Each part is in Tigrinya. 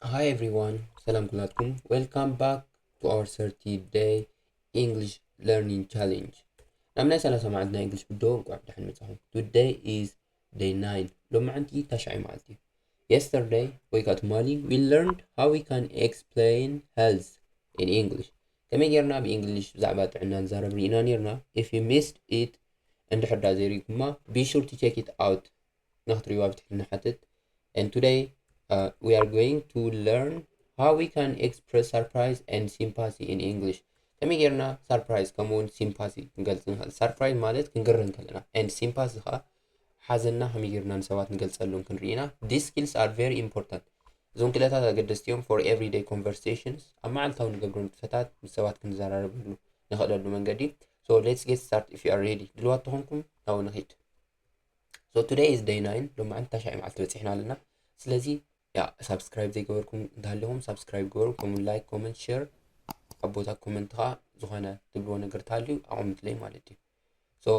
Hi everyone, ሰላም ኩላትኩም ዌልካም ባክ ቱ ኣወር ሰርቲ ደይ ኢንግሊሽ ለርኒንግ ቻሌንጅ ናብ ናይ ሰላሳ መዓልቲ ናይ እንግሊሽ ብዶ እንቋዕ ብደሓን መጻኹም ቱደይ ኢዝ ደይ ናይን ሎም መዓንቲ ታሽዓይ መዓልቲ እዩ የስተርደይ ወይ ከዓ ትማሊ ዊ ለርንድ ሃው ዊ ካን ኤክስፕሌን ሄልዝ ኢን ኢንግሊሽ ከመይ ጌርና ብእንግሊሽ ብዛዕባ ጥዕና ንዛረብ ርኢና ኔርና ኢፍ ዩ ሚስድ ኢት እንድሕር ዳ ዘይርኢኩማ ቢ ሹር ቱ ቼክ ኢት ኣውት ንክትሪእዋ ብትሕት ንሓትት and today uh, we are going to learn how we can express surprise and sympathy in English ከመይ ጌርና ሰርፕራይዝ ከምኡ እውን ሲምፓሲ ክንገልፅ ንኽእል ሰርፕራይዝ ማለት ክንግረን ከለና and ሲምፓሲ ከዓ ሓዘና ከመይ ጌርና ንሰባት ንገልፀሉን ክንርኢና ዲስ ስኪልስ ኣር ቨሪ ኢምፖርታንት እዞም ክእለታት ኣገደስቲ እዮም ፎር ኤቭሪደይ ኮንቨርሴሽንስ ኣብ መዓልታዊ ንገብሮ ንጥፈታት ምስ ሰባት ክንዘራረበሉ ንኽእለሉ መንገዲ ሶ ሌትስ ጌት ስታርት ኢፍ ዩ ኣር ሬዲ ድልዋት ተኾንኩም ናብኡ ንኺድ ሶ ቱደይ ኢዝ ደይ ናይን ሎማዓንቲ ታሻይ መዓልቲ በፂሕና ኣለና ስለዚ ያ ሳብስክራይብ ዘይገበርኩም እንተሃሊኹም ሳብስክራይብ ግበሩ ከምኡ ላይክ ኮመንት ሼር ኣብ ቦታ ኮመንት ከዓ ዝኾነ ትብልዎ ነገር ተሃልዩ ኣቐምጥለይ ማለት እዩ ሶ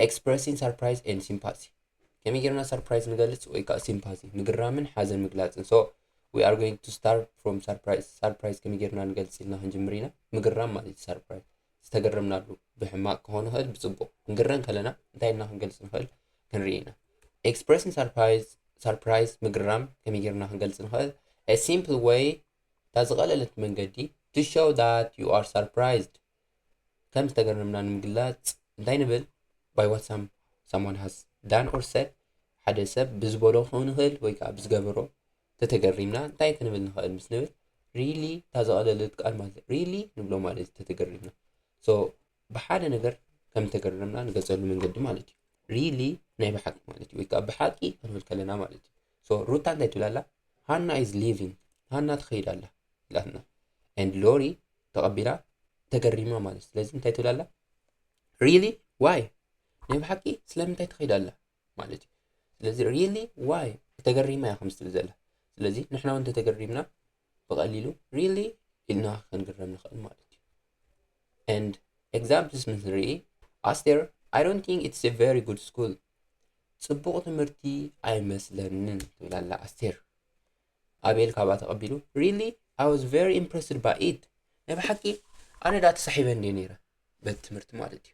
ኤክስፕረሲን ሰርፕራይዝ ኤን ሲምፓቲ ከመይ ጌርና ሰርፕራይዝ ንገልፅ ወይ ከዓ ሲምፓቲ ምግራምን ሓዘን ምግላፅን ሶ ዊ ኣር ጎይንግ ቱ ስታር ፍሮም ሰርፕራይዝ ሰርፕራይዝ ከመይ ጌርና ንገልፅ ኢልና ክንጅምር ኢና ምግራም ማለት እዩ ሰርፕራይዝ ዝተገረምናሉ ብሕማቅ ክኾን ይኽእል ብጽቡቅ ክንግረ እንከለና እንታይ ኢልና ክንገልጽ ንኽእል ክንርኢ ኢና ኤክስፕረሲን ሰርፕራይዝ ሰርፕራይዝ ምግራም ከመይ ጌርና ክንገልጽ ንኽእል a simple way እታ ዝቐለለት መንገዲ to show that you are surprised ከም ዝተገረምና ንምግላጽ እንታይ ንብል by what some someone has done or said ሓደ ሰብ ብዝበሎ ክኸውን ይኽእል ወይ ከዓ ብዝገበሮ ተተገሪምና እንታይ ክንብል ንኸእል ምስ ንብል ሪሊ እታ ዘቐለለት ቃል ማለት ሪሊ ንብሎ ማለት እዩ ተተገሪምና ሶ ብሓደ ነገር ከም ተገረምና ንገጸሉ መንገዲ ማለት እዩ ሪሊ ናይ ብሓቂ ማለት እዩ ወይ ከዓ ብሓቂ ክንብል ከለና ማለት እዩ ሶ ሩታ እንታይ ትብል ኣላ ሃና ኢዝ ሊቪንግ ሃና ትኸይድ ኣላ ኢላትና ኤንድ ሎሪ ተቐቢላ ተገሪማ ማለት ስለዚ እንታይ ትብል ኣላ ሪሊ ዋይ ናይ ብሓቂ ስለምንታይ ትኸይድ ኣላ ማለት እዩ ስለዚ ሪሊ ዋይ ተገሪማ እያ ከምዚ ትብል ዘላ ስለዚ ንሕና እውን እንተተገሪምና ብቐሊሉ ሪሊ ኢልና ክንግረም ንኽእል ማለት እዩ and examples ምስ ንርኢ ኣስቴር i don't think it's a very good school ፅቡቕ ትምህርቲ ኣይመስለንን ትብል ኣላ ኣስቴር ኣቤል ካብኣ ተቐቢሉ ሪሊ i was very impressed by it ናይ ብሓቂ ኣነ ዳ ተሳሒበ እንደ ነይረ በቲ ትምህርቲ ማለት እዩ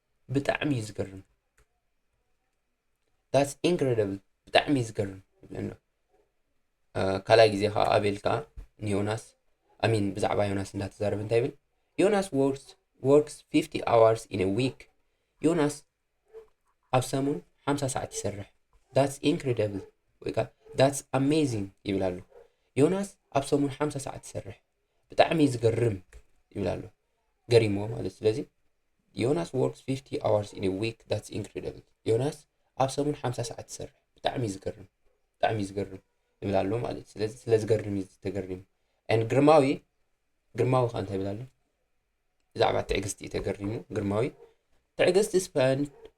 ብጣዕሚ እዩ ዝገርም ዳትስ ኢንክሬዲብል ብጣዕሚ እዩ ዝገርም ይብለና ካልኣይ ግዜ ከዓ ኣቤል ከዓ ንዮናስ ኣሚን ብዛዕባ ዮናስ እንዳተዛረበ እንታይ ይብል ዮናስ ወርክስ 50 ኣዋርስ ኢን ዊክ ዮናስ ኣብ ሰሙን 50 ሰዓት ይሰርሕ ዳትስ ኢንክሬዲብል ወይ ከዓ ዳትስ ኣሜዚንግ ይብል ኣሎ ዮናስ ኣብ ሰሙን 50 ሰዓት ይሰርሕ ብጣዕሚ ዝገርም ይብል ኣሎ ገሪሞ ማለት ስለዚ ዮናስ ወርክስ 50 ኣዋርስ ኢን ዊክ ዳትስ ኢንክሬዲብል ዮናስ ኣብ ሰሙን 50 ሰዓት ትሰርሕ ብጣዕሚ ዝገርም ብጣዕሚ ዝገርም ይብል ኣሎ ማለት ስለዚ ስለ ዝገርም እዩ ተገሪሙ ን ግርማዊ ግርማዊ ከዓ እንታይ ይብል ኣሎ ብዛዕባ ትዕግስቲ እዩ ተገሪሙ ግርማዊ ትዕግስቲ ስፐንድ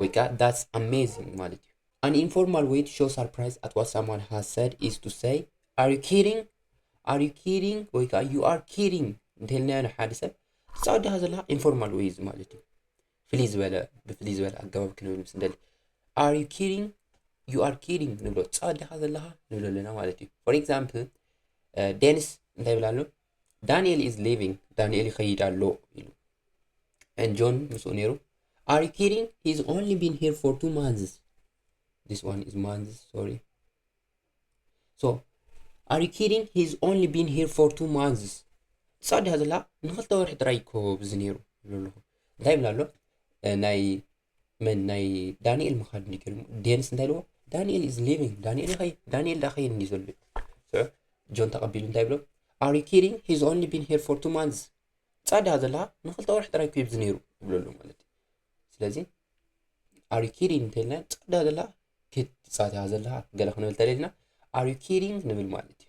ወይ ከዓ ዳትስ ኣሜዚንግ ማለት እዩ ኣን ኢንፎርማል ዌይ ቱ ሾው ሰርፕራይዝ ኣት ዋት ሳምዋን ሃዝ ሰድ ኢዝ ቱ ሰይ ኣር ዩ ኪዲንግ ኣር ዩ ኪዲንግ ወይ ከዓ ዩ ኣር ኪዲንግ እንተልናዮ ንሓደ ሰብ ትፃወድኻ ዘለካ ኢንፎርማል ዌይ እዚ ማለት እዩ ፍልይ ዝበለ ብፍልይ ዝበለ ኣገባብ ክንብል ምስ ንደሊ ኣር ዩ ኪዲንግ ዩ ኣር ኪዲንግ ንብሎ ትፃወድኻ ዘለካ ንብሎ ኣለና ማለት እዩ ፎር ኤግዛምፕል ዴኒስ እንታይ ይብል ኣሎ ዳንኤል ኢዝ ሊቪንግ ዳንኤል ይኸይድ ኣሎ ኢሉ ን ጆን ምስኡ ነይሩ ኣር ዩ ኪዲንግ ሂዝ ኦንሊ ቢን ሂር ፎር ቱ ማንዝስ ዲስ ዋን ኢዝ ማንዝስ ሶሪ ሶ ኣር ዩ ኪዲንግ ሂዝ ኦንሊ ቢን ሂር ፎር ቱ ማንዝስ ትጻድያ ዘላ ንክልተ ወርሒ ጥራይ እኮ ብዚ ነይሩ ይብሎ ኣለኹ እንታይ ይብላ ኣሎ ናይ መን ናይ ዳንኤል ምኻድ እንዲ ገርሙ ዴንስ እንታይ ልዎ ዳንኤል ኢዝ ሊቪንግ ዳንኤል ይኸይ ዳንኤል ዳ ኸይድ እንዲ ዘሎ እዩ ጆን ተቐቢሉ እንታይ ብሎ ኣር ዩ ኪዲንግ ሂዝ ኦንሊ ቢን ሄር ፎር ቱ ማንዝ ጻዳ ዘለካ ንክልተ ወርሒ ጥራይ ኩብዚ ነይሩ ይብለሉ ማለት እዩ ስለዚ ኣር ዩ ኪዲንግ እንተልና ጻዳ ዘለካ ክትጻትያ ዘለካ ገለ ክንብል ተለልና ኣር ዩ ኪዲንግ ንብል ማለት እዩ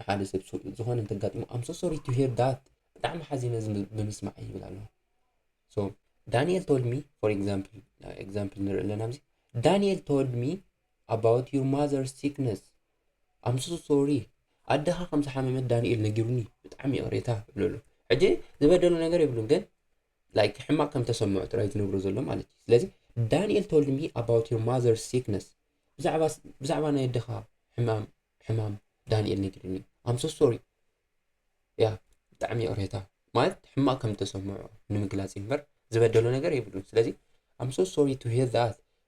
ንሓደ ሰብ ሱቅ ዝኾነ እንተጋጥሞ ኣም ሶ ሶሪ ቱ ሂር ዳት ብጣዕሚ ሓዚነ እዚ ብምስማዐይ ይብል ኣሎ ሶ ዳንኤል ቶልድ ሚ ፎር ኤግዛምፕል ኤግዛምፕል ንርኢ ኣለና ኣብዚ ዳንኤል ቶልድ ሚ ኣባውት ዩር ማዘር ሲክነስ ኣም ሶ ሶሪ ኣደኻ ከም ዝሓመመት ዳንኤል ነጊሩኒ ብጣዕሚ ይቕሬታ ይብለሉ ሕጂ ዝበደሉ ነገር የብሉን ግን ላይክ ሕማቅ ከም ተሰምዑ ጥራይ ዝነግሩ ዘሎ ማለት እዩ ስለዚ ዳንኤል ቶልድ ሚ ኣባውት ዮር ማዘርስ ሲክነስ ብዛዕባ ብዛዕባ ናይ ኣደኻ ሕማም ሕማም ዳንኤል ነጊሩኒ ኣም ሶ ሶሪ ያ ብጣዕሚ ይቕሬታ ማለት ሕማቅ ከም ተሰምዑ ንምግላጽ እምበር ዝበደሎ ነገር የብሉን ስለዚ ኣም ሶ ሶሪ ቱ ሂር ዳት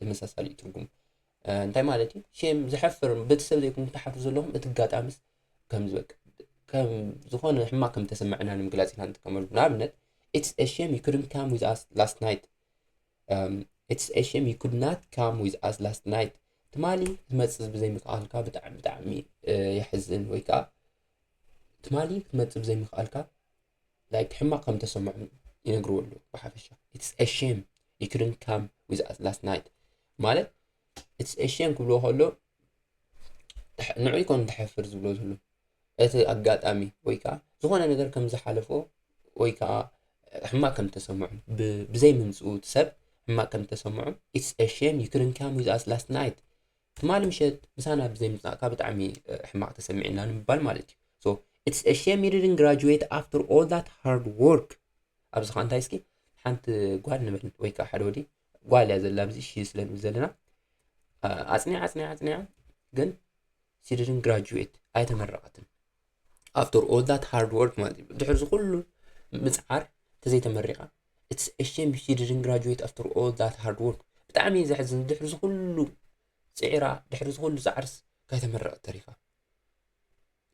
ተመሳሳሊ እዩ ትርጉሙ እንታይ ማለት እዩ ሼም ዘሕፍር ቤተሰብ ዘይኮንኩም ተሓፍሩ ዘለኹም እቲ ኣጋጣሚስ ከምዚ በቃ ከም ዝኾነ ሕማቅ ከም ተሰምዐና ንምግላፅ ኢና ንጥቀመሉ ንኣብነት ኢትስ ኤ ሼም ዩ ኩድንት ካም ዊዝ ኣስ ላስት ናይት ኢትስ ኤ ሼም ዩ ኩድ ናት ካም ዊዝ ኣስ ላስት ናይት ትማሊ ክትመፅእ ብዘይምክኣልካ ብጣዕሚ ብጣዕሚ የሕዝን ወይ ከዓ ትማሊ ክትመፅእ ብዘይምክኣልካ ላይክ ሕማቅ ከም ተሰምዖም ይነግርዎ ኣለዉ ብሓፈሻ ኢትስ ኤ ሼም ዩ ክድንት ካም ዊዝ ኣስ ላስት ናይት ማለት ኢትስ ኤ ሼም ክብልዎ ከሎ ንዑ ይኮን ተሕፍር ዝብሎ ዝሉ እቲ ኣጋጣሚ ወይ ከዓ ዝኾነ ነገር ከም ዝሓለፎ ወይ ከዓ ሕማቅ ከም ተሰምዖ ብዘይ ምምፅኡ ሰብ ሕማቅ ከም ተሰምዖ ኢትስ ኤ ሼም ዩ ክድንት ካም ዊዝ ኣስ ላስት ናይት ትማሊ ምሸት ምሳና ብዘይ ምጻእካ ብጣዕሚ ሕማቅ ተሰሚዕና ንምባል ማለት እዩ so it's a shame you didn't graduate after all that hard work ኣብዚ ከ እንታይ እስኪ ሓንቲ ጓል ንበል ወይ ከዓ ሓደ ወዲ ጓል እያ ዘላ ኣብዚ ሺ ስለ ንብል ዘለና ኣጽኒዓ ኣጽኒዓ ኣጽኒዓ ግን she didn't graduate ኣይተመረቀትን ኣፍተር ኦል ዳት ሃርድ ወርክ ማለት እዩ ድሕር ዝኩሉ ምፅዓር ተዘይተመሪቃ ኢትስ ሸም ሺ ዲድን ግራጁዌት ኣፍተር ኦል ዳት ሃርድ ወርክ ብጣዕሚ እዩ ዘሕዝን ድሕር ዝኩሉ ፅዒራ ድሕር ዝኩሉ ፃዕርስ ካይተመረቀት ተሪፋ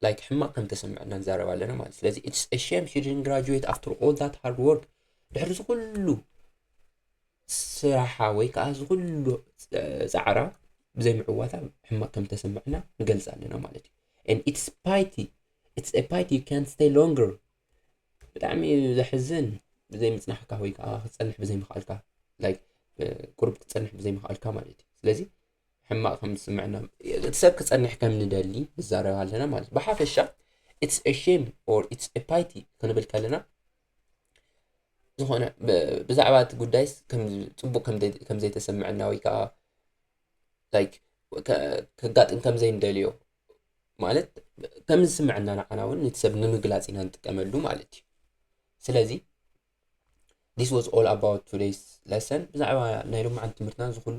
ላይክ ሕማቅ ከም ተሰምዐ እና ንዛረብ ኣለና ማለት ስለዚ ኢትስ ሸም ሺ ዲድን ግራጁዌት ኣፍተር ኦል ዳት ሃርድ ወርክ ድሕር ዝኩሉ ስራሓ ወይ ከዓ እዚ ኩሉ ፃዕራ ብዘይምዕዋታ ሕማቅ ከም ዝተሰመዐና ንገልፅ ኣለና ማለት እዩ and it's piety it's a piety you can't stay longer ብጣዕሚ እዩ ዘሕዝን ብዘይምፅናሕካ ወይ ከዓ ክትፀንሕ ብዘይምኽኣልካ like ቁርብ ክትፀንሕ ብዘይምኽኣልካ ማለት እዩ ስለዚ ሕማቅ ከም ዝስምዐና እቲ ሰብ ክፀንሕ ከም ንደሊ ንዛረብ ኣለና ማለት እዩ ብሓፈሻ it's a shame or it's a piety ክንብል ከለና ዝኾነ ብዛዕባ እቲ ጉዳይስ ፅቡቕ ከምዘይተሰመዐና ወይ ከዓ ላይክ ከጋጥም ከምዘይንደልዮ ማለት ከም ዝስምዐና ንዓና እውን ነቲ ሰብ ንምግላፅ ኢና ንጥቀመሉ ማለት እዩ ስለዚ this was all about today's lesson ብዛዕባ ናይ ሎማዓንቲ ትምህርትና ዝኹሉ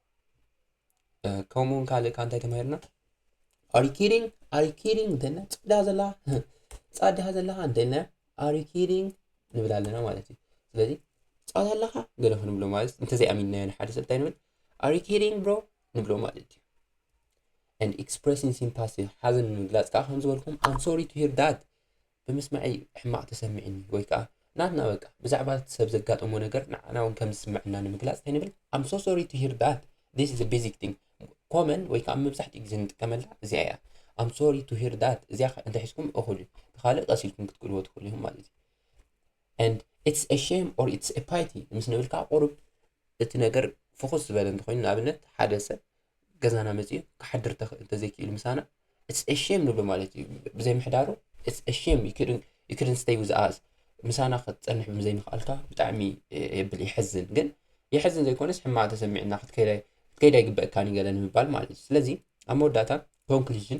ከምኡ እውን ካልእ ካብ እንታይ ተማሂርና ኣሪኪሪንግ ኣሪኪሪንግ እንተና ፅዳ ዘላ ፃድሃ ዘለካ እንተና ኣሪኪሪንግ ንብል ኣለና ማለት እዩ ስለዚ ፃዳ ኣለካ ገለ ክንብሎ ማለት እንተዘይኣሚንናዮ ንሓደ ሰብ እንታይ ንብል ኣሪኪሪንግ ብሮ ንብሎ ማለት እዩ and expressing sympathy ሓዘን ንምግላፅ ከዓ ከም ዝበልኩም I'm sorry to hear that ብምስምዐይ ሕማቕ ተሰሚዕኒ ወይ ከኣ ናትና በቃ ብዛዕባ እቲ ሰብ ዘጋጠሞ ነገር ንዓና ውን ከም ዝስምዐና ንምግላጽ እንታይ ንብል I'm so sorry to hear that this is a basic thing ኮመን ወይ ከኣ መብዛሕትኡ ግዜ ንጥቀመላ እዚኣ እያ I'm sorry to hear that እዚኣ ከ እንተሒዝኩም እኹል እዩ ብኻልእ ቀስ ኢልኩም ክትቅልዎ ትኽእሉ ኢኹም ማለት እዩ and it's a shame or it's a pity ምስ ንብልካ ቁሩብ እቲ ነገር ፍኹስ ዝበለ እንተኾይኑ ንኣብነት ሓደ ሰብ ገዛና መጺኡ ክሓድር እንተዘይክኢሉ ምሳና ኢትስ ኤ ሼም ንብሎ ማለት እዩ ብዘይ ምሕዳሩ ኢትስ ኤ ሼም ዩ ክድን ስተይ ዊዝ ኣስ ምሳና ክትፀንሕ ብምዘይምኽኣልካ ብጣዕሚ የብል የሕዝን ግን የሕዝን ዘይኮነስ ሕማቅ ተሰሚዕና ክትከይድ ኣይግበእካን ገለ ንምባል ማለት እዩ ስለዚ ኣብ መወዳእታ ኮንክሉዥን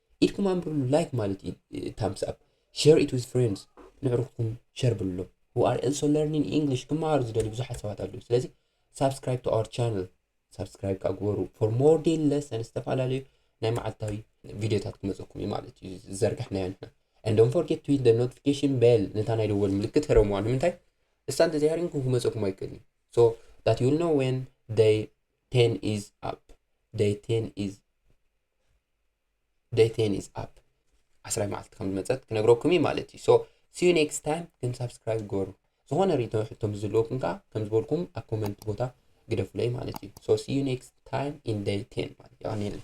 ኢድኩም ኣንብሩሉ ላይክ ማለት እዩ ታምስ ኣፕ ሼር ኢት ዊዝ ፍሬንድስ ንዕሩኽኩም ሸር ብልሎ who are also learning English ክመሃሩ ዝደልዩ ብዙሓት ሰባት ኣለዉ ስለዚ ሳብስክራይብ ቱ ኣወር ቻነል ሳብስክራይብ ከዓ ግበሩ ፎር ሞር ዴይሊ ለሰን ዝተፈላለዩ ናይ መዓልታዊ ቪድዮታት ክመፀኩም እዩ ማለት እዩ ዝዘርጋሕናዮ ንሕና and don't forget to hit the notification bell ነታ ናይ ደወል ምልክት ህረምዋ ንምንታይ እሳ እንተዘይሃሪምኩም ክመፀኩም ኣይክእልን እዩ so that you will know when day 10 is up day 10 is ደቴን ኢዝ ኣፕ ዓስራይ መዓልቲ ከም ዝመፀት ክነግረኩም እዩ ማለት እዩ ሶ ሲዩ ኔክስት ታይም ግን ሳብስክራይብ ግበሩ ዝኾነ ሪቶ ሕቶ ምስ ዘለወኩም ከዓ ከም ዝበልኩም ኣብ ኮመንት ቦታ ግደፉለይ ማለት እዩ ሶ ሲዩ ኔክስት ታይም ኢን ደይ ቴን ማለት የቀኒየለይ